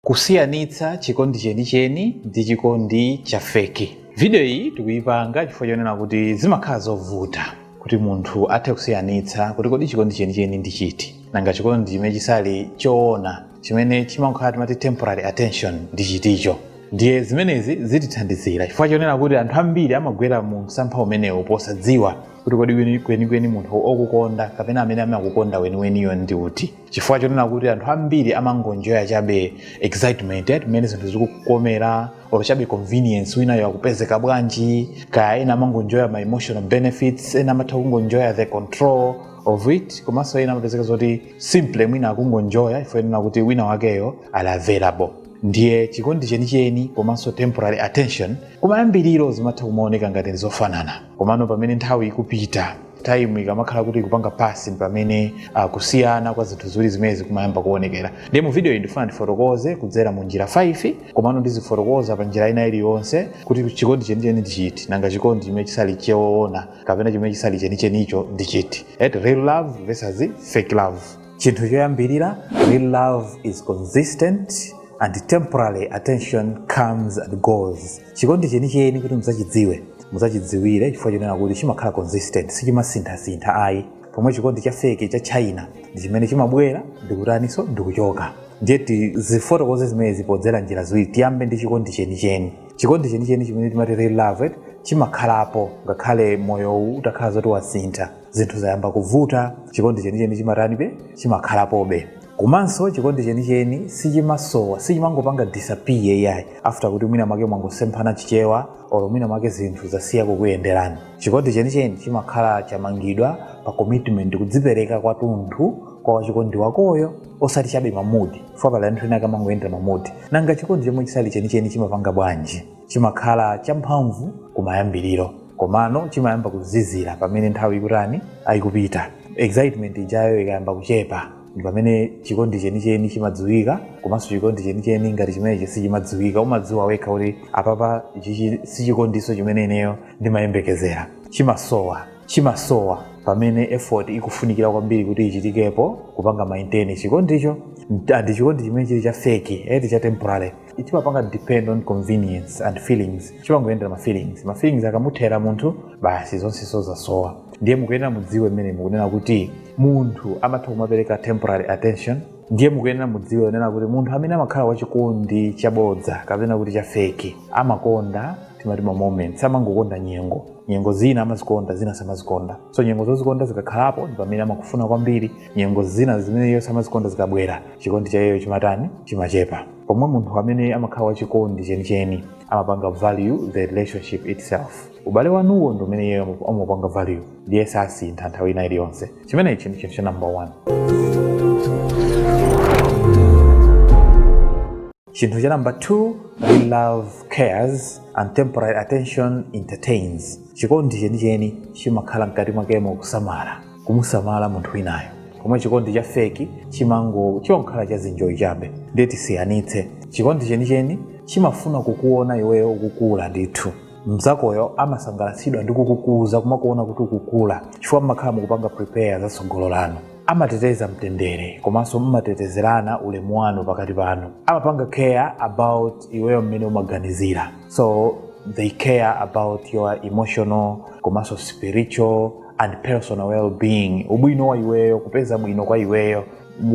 Kusiyanitsa chikondi chenicheni ndi chikondi cha feki. Video iyi tikuyipanga chifukwa chonena kuti zimakhala zovuta kuti munthu athe kusiyanitsa kuti kodi chikondi chenicheni ndi chiti, nanga chikondi chimene chisali choona chimene chimangokhala timati temporary attention ndi chiticho. Ndiye zimenezi zitithandizira chifukwa chonena kuti anthu ambiri amagwera mu msampha umenewu posadziwa kuti kodi kwenikweni munthu okukonda kapena amene amakukonda weniweniyo ndi uti. chifukwa chonena kuti anthu ambiri amangonjoya chabe excitement eti mmene zinthu zikukomera or chabe convenience winayo akupezeka bwanji kaya ena amangonjoya ma emotional benefits ena amatha kungonjoya the control of it komanso ena amapezeka zoti simple mwina akungonjoya chifukwa chonena kuti wina wakeyo ali available ndiye chikondi chenicheni komanso temporary attention kumayambiriro zimatha kumaoneka ngati zofanana komano pamene nthawi ikupita taimu ikamakhala kuti ikupanga pasi pamene uh, kusiyana kwa zinthu ziwiri zimenezi kumayamba kuonekera ndiye mu video iyi ndifuna ndifotokoze kudzera mu njira 5 komano ndizifotokoza pa njira ina iliyonse kuti chikondi chenicheni ndi chiti nanga chikondi chimene chisali choona kapena chimene chisali chenichenicho ndi chiti eti real love versus fake love chinthu choyambirira real love is consistent and temporary attention comes and goes chikondi chenicheni kuti mudzachidziwe mudzachidziwire chifukwa chonena kuti chimakhala consistent sichimasinthasintha ayi pomwe chikondi cha feki cha china ndi chimene chimabwera ndikutaninso ndikuchoka ndiye tizifotokoze zimenezi podzera njira ziwiri tiyambe ndi chikondi chenicheni chikondi chenicheni chimene timati real love eti, chimakhalapo ngakhale moyowu utakhala zoti wasintha zinthu zayamba kuvuta chikondi chenicheni chimatanibe chimakhalapobe Komanso chikondi chenicheni sichimasowa, sichimangopanga disappear iyayi after kuti mwina mwake mwangosemphana chichewa or mwina mwake zinthu zasiya kukuyenderani. Chikondi chenicheni chimakhala chamangidwa pa commitment, kudzipereka kwathunthu kwa wachikondi wakoyo osati chabe ma mood, chifukwa pali anthu ena ake amangoyendera ma mood. Nanga chikondi chomwe chisali chenicheni chimapanga bwanji? chimakhala champhamvu kumayambiriro komano chimayamba kuzizira pamene nthawi ikutani ikupita excitement ijayo ikayamba kuchepa ndi pamene chikondi chenicheni chimadziwika komanso chikondi chenicheni ngati chimenechi sichimadziwika umadziwa wekha kuti apapa ichichi si chikondiso chimene ineyo ndimayembekezera chimasowa chimasowa pamene effort ikufunikira kwambiri kuti ichitikepo kupanga maintain chikondicho andi chikondi chimene chili cha feki eti cha temporary chimapanga depend on convenience and feelings chimangoyendera ma feelings ma feelings akamuthera munthu basi zonse zasowa ndiye mukuyenera mudziwe mmene mukunena kuti munthu amatha kumapereka temporary attention ndiye mukuyenera mudziwe kunena kuti munthu amene amakhala wachikondi chabodza kapena kuti chafeki amakonda timati ma moments amangokonda nyengo nyengo zina amazikonda zina samazikonda so nyengo zozikonda zikakhalapo ndi pamene amakufuna kwambiri nyengo zina zimene iye samazikonda zikabwera chikondi cha iyeyo chimatani chimachepa pomwe munthu amene amakhala wachikondi chenicheni amapanga value the relationship itself ubale wanuwo ndi umene iyeyo amapu- amapanga value ndiye sasintha nthawi ina iliyonse chimenechi ndi chinthu cha number one chinthu cha number two real love cares and temporary attention entertains chikondi chenicheni chimakhala mkati mwakemo kusamala kumusamala munthu winayo pomwe chikondi cha feki chimango chongokhala cha zinjoyi chabe ndiye tisiyanitse chikondi chenicheni chimafuna kukuona iweyo ukukula ndithu mnzakoyo amasangalatsidwa ndi kukukuza kumakuona kuti ukukula chifukwa mmakhala mukupanga prepare za tsogolo lanu amateteza mtendere komanso mmatetezerana ulemu wanu pakati panu amapanga care about iweyo mmene umaganizira so they care about your emotional komanso spiritual and personal well-being ubwino wa iweyo kupeza bwino kwa iweyo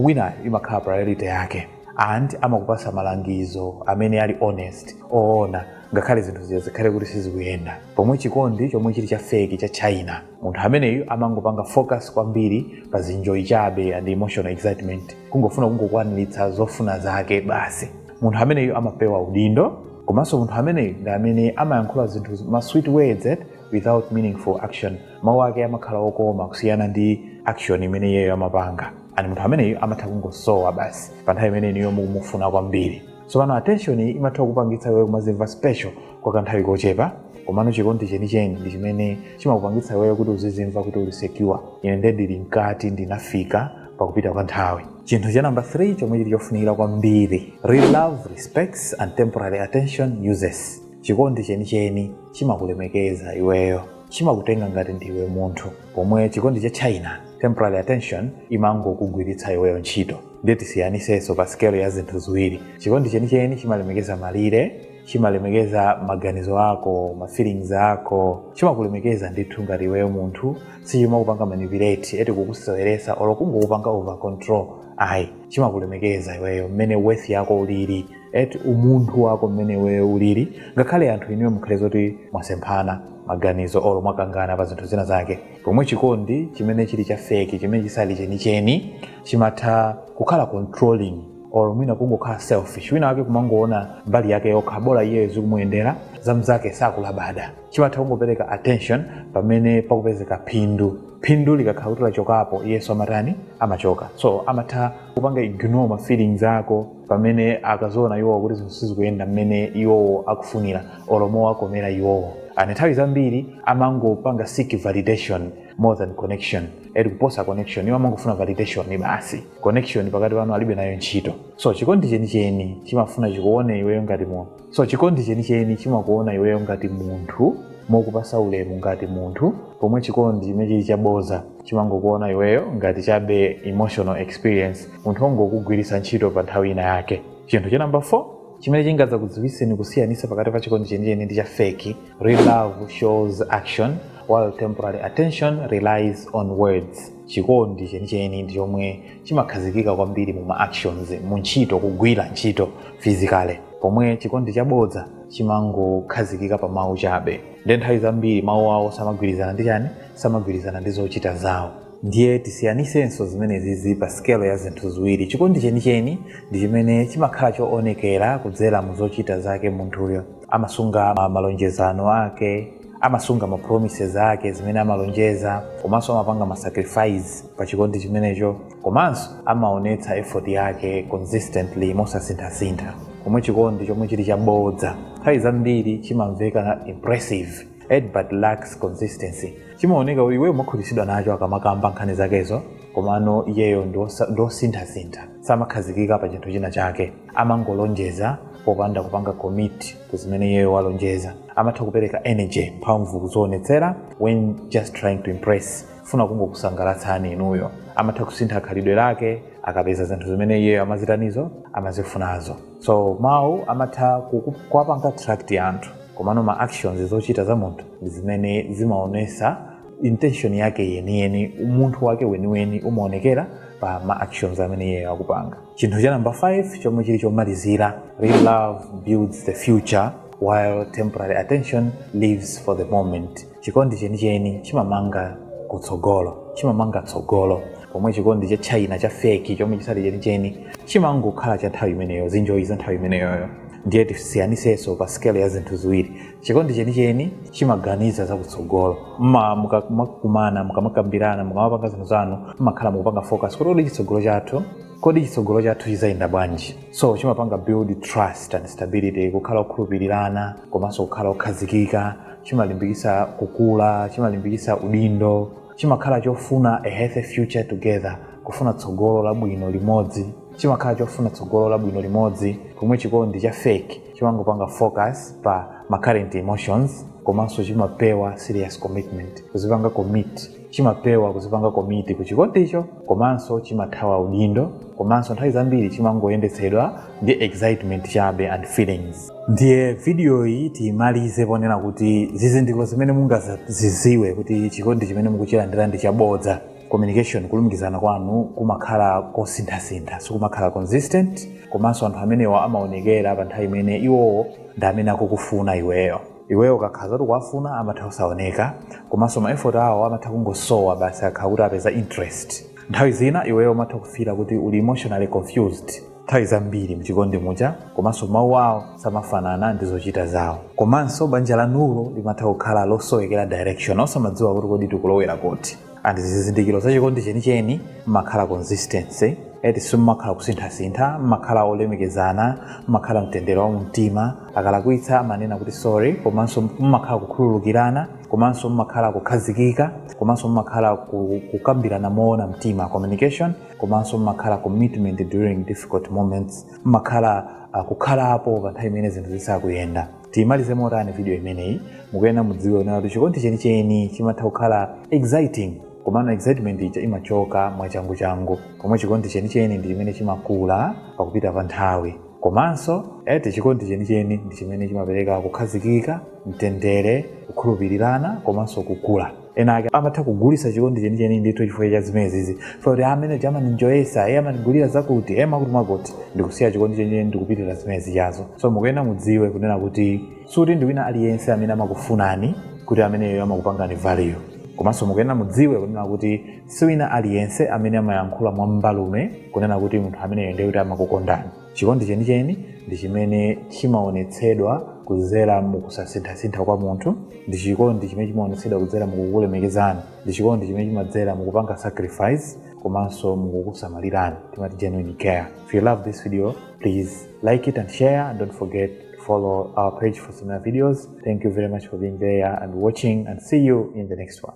wina imakhala priority yake and amakupasa malangizo amene ali honest oona ngakhale zinthu zija zikhale kuti sizikuyenda pomwe chikondi chomwe chili cha feki cha china munthu ameneyu amangopanga focus kwambiri pa zinjoyi chabe and emotional excitement kungofuna kungokwaniritsa zofuna zake basi munthu ameneyu amapewa udindo komanso munthu ameneyu ndi amene amayankhula zinthu ma sweet words eh, without meaningful action mawu ake amakhala okoma kusiyana ndi action imene iyeyo amapanga and munthu ameneyo amatha kungosowa basi pa nthawi imene inuyo mukumufuna kwambiri so pano attention iyi imatha kupangitsa iweyo kumazimva special kwa kanthawi kochepa komano chikondi chenicheni ndi chimene chimakupangitsa iweyo kuti uzizimva kuti uli secure ine nde ndili mkati ndinafika pakupita kwa nthawi chinthu cha namba 3 chomwe chili chofunikira kwambiri real love respects and temporary attention uses chikondi chenicheni chimakulemekeza iweyo chimakutenga ngati ndiwe munthu pomwe chikondi cha china temporary attention imangokugwiritsa iweyo ntchito ndiye tisiyanisenso pa sikelo ya zinthu ziwiri chikondi chenicheni chimalemekeza malire chimalemekeza maganizo ako ma feelings ako chimakulemekeza ndithu ngati iweyo munthu sichimakupanga manipulate eti kukuseweresa olo kungokupanga over control ayi chimakulemekeza iweyo mmene worth yako ulili eti umunthu wako mmene iweyo ulili ngakhale anthu inuyo mukhale zoti mwasemphana maganizo olo mwakangana pa zinthu zina zake pomwe chikondi chimene chili cha feki chimene chisali chenicheni chimatha kukhala controlling or mwina kungokhala selfish wina wake kumangoona mbali yake yokha bola iyeyo zikumuyendera zamzake sakulabada chimatha kungopereka attention pamene pakupezeka phindu phindu likakhala kuti lachokapo iyeso amatani amachoka so amatha kupanga ignore ma feelings ako pamene akadziona iwowo kuti zinthu sizikuyenda mmene iwowo akufunira olo mowakomera iwowo and nthawi zambiri amangopanga seek validation more than connection eti kuposa connection iwo amangofuna validation basi connection pakati panu alibe nayo ntchito so chikondi chenicheni chimafuna chikuone iweyo ngati mu- so chikondi chenicheni chimakuona iweyo ngati munthu mokupasa ulemu ngati munthu pomwe chikondi chimene chili chabodza chimangokuona iweyo ngati chabe emotional experience munthu ongokugwiritsa ntchito pa nthawi ina yake chinthu cha namba 4 chimene chingadzakudziwitseni kusiyanisa pakati pa chikondi chenicheni ndi cha feki real love shows action while temporary attention relies on words chikondi chenicheni ndi chomwe chimakhazikika kwambiri mu ma actions mu ntchito kugwira ntchito physically pomwe chikondi chabodza chimangokhazikika pa mawu chabe ndiye nthawi zambiri mawu awo samagwirizana ndi chani samagwirizana ndi zochita zawo ndiye tisiyanisenso zimenezi pa sikelo ya zinthu ziwiri chikondi chenicheni ndi chimene chimakhala choonekera kudzera mu zochita zake munthuyo amasunga ma- malonjezano ake amasunga ma promises ake zimene amalonjeza komanso amapanga ma sacrifice pa chikondi chimenecho komanso amaonetsa effort yake consistently mosasinthasintha pomwe chikondi chomwe chili chabodza nthawi zambiri chimamveka impressive ed but lacks consistency chimaoneka kuti iweyo umakhutitsidwa nacho akamakamba nkhani zakezo komano iyeyo ndiosa- ndiosinthasintha samakhazikika pa chinthu china chake amangolonjeza popanda kupanga commit ku zimene iyeyo walonjeza amatha kupereka energy mphamvu kudzionetsera when just trying to impress funa kungokusangalatsani inuyo amatha kusintha khalidwe lake akapeza zinthu zimene iyeyo amazitanizo amazifunazo so mawu amatha kuku- kuwapanga attract anthu komano ma actions zochita za munthu ndi zimene zimaonesa intention yake yeniyeni umunthu wake weniweni umaonekera pa ma actions amene iyeyo akupanga chinthu cha namba 5 chomwe chili chomalizira real love builds the future while temporary attention lives for the moment chikondi chenicheni chimamanga kutsogolo chimamanga tsogolo pomwe chikondi cha china cha feki chomwe chisali chenicheni chimangokhala cha nthawi imeneyo zinjoyi za nthawi imeneyoyo ndiye tisiyanisenso pa sikelo ya zinthu ziwiri Chikondi chenicheni chimaganiza za kutsogolo. Mma mukamakumana, mukamakambirana, mukamapanga zinthu zanu, mmakhala mukupanga focus kuti kodi chitsogolo chathu, kodi chitsogolo chathu chizayenda bwanji? So chimapanga build trust and stability, kukhala okhulupirirana komanso kukhala okhazikika, chimalimbikitsa kukula, chimalimbikitsa udindo, chimakhala chofuna a healthy future together, kufuna tsogolo labwino limodzi. chimakhala chofuna tsogolo labwino limodzi pomwe chikondi cha fake chimangopanga focus pa ma current emotions komanso chimapewa serious commitment kuzipanga commit chimapewa kuzipanga commit ku chikondicho komanso chimathawa udindo komanso nthawi zambiri chimangoyendetsedwa ndi excitement chabe and feelings ndiye vidiyoyi tiyimalize ponena kuti zizindikiro zimene mungaziziwe kuti chikondi chimene mukuchilandira ndi chabodza communication kulumikizana kwanu kumakhala kosinthasintha sikumakhala consistent komanso anthu amenewa amaonekera pa nthawi imene iwowo ndi amene akukufuna iweyo iweyo ukakhala zoti ukuwafuna amatha kusaoneka komanso ma effort awo amatha kungosowa basi akhala kuti apeza interest nthawi zina iweyo umatha kufila kuti uli emotionally confused nthawi zambiri mchikondi muja komanso mawu awo samafanana ndi zochita zawo komanso banja lanulo limatha kukhala losowekera direction osamadziwa kuti kodi tikulowera kuti and zizindikiro za chikondi chenicheni mmakhala consistency simmakhala kusinthasintha mmakhala kulemekezana mmakhala mtendere wa mumtima akalakwitsa amanena kuti sorry komanso mmakhala kukhululukirana komanso mmakhala kukhazikika komanso mmakhala ku- kukambirana moona mtima communication komanso mmakhala commitment during difficult moments mmakhala uh, kukhalapo pa nthawi imene zinthu zisakuyenda tiyimalize motani video imeneyi mukuyenera mudziwe kunena kuti chikondi chenicheni chimatha kukhala exciting komano excitement ija imachoka mwachanguchangu pomwe chikondi chenicheni ndi chimene chimakula pakupita pa nthawi komanso eti chikondi chenicheni ndi chimene chimapereka kukhazikika mtendere kukhulupirirana komanso kukula ena ake amatha kugulisa chikondi chenicheni ndithu chifukwa cha zimenezizi zoti amene amaninjoyesa e amanigulira zakuti e makuti makuti ndikusiya chikondi chenicheni ndikupitira zimenezi chabe so mukuyenera mudziwe kunena kuti sikuti ndi wina aliyense amene amakufunani kuti ameneyo amakupangani value komanso mukuyenera mudziwe kunena kuti si wina aliyense amene amayankhula mwambalume kunena kuti munthu ameneyo ndiye kuti amakukondani Chikondi chenicheni ndi chimene chimaonetsedwa kudzera mu kusasinthasintha kwa munthu, ndi chikondi chimene chimaonetsedwa kudzera mukukulemekezani, ndi chikondi chimene chimadzera mukupanga sacrifice komanso mukukusamalirani, timati genuine care. If you love this video, please like it and share and don't forget to follow our page for similar videos. Thank you very much for being there and watching and see you in the next one.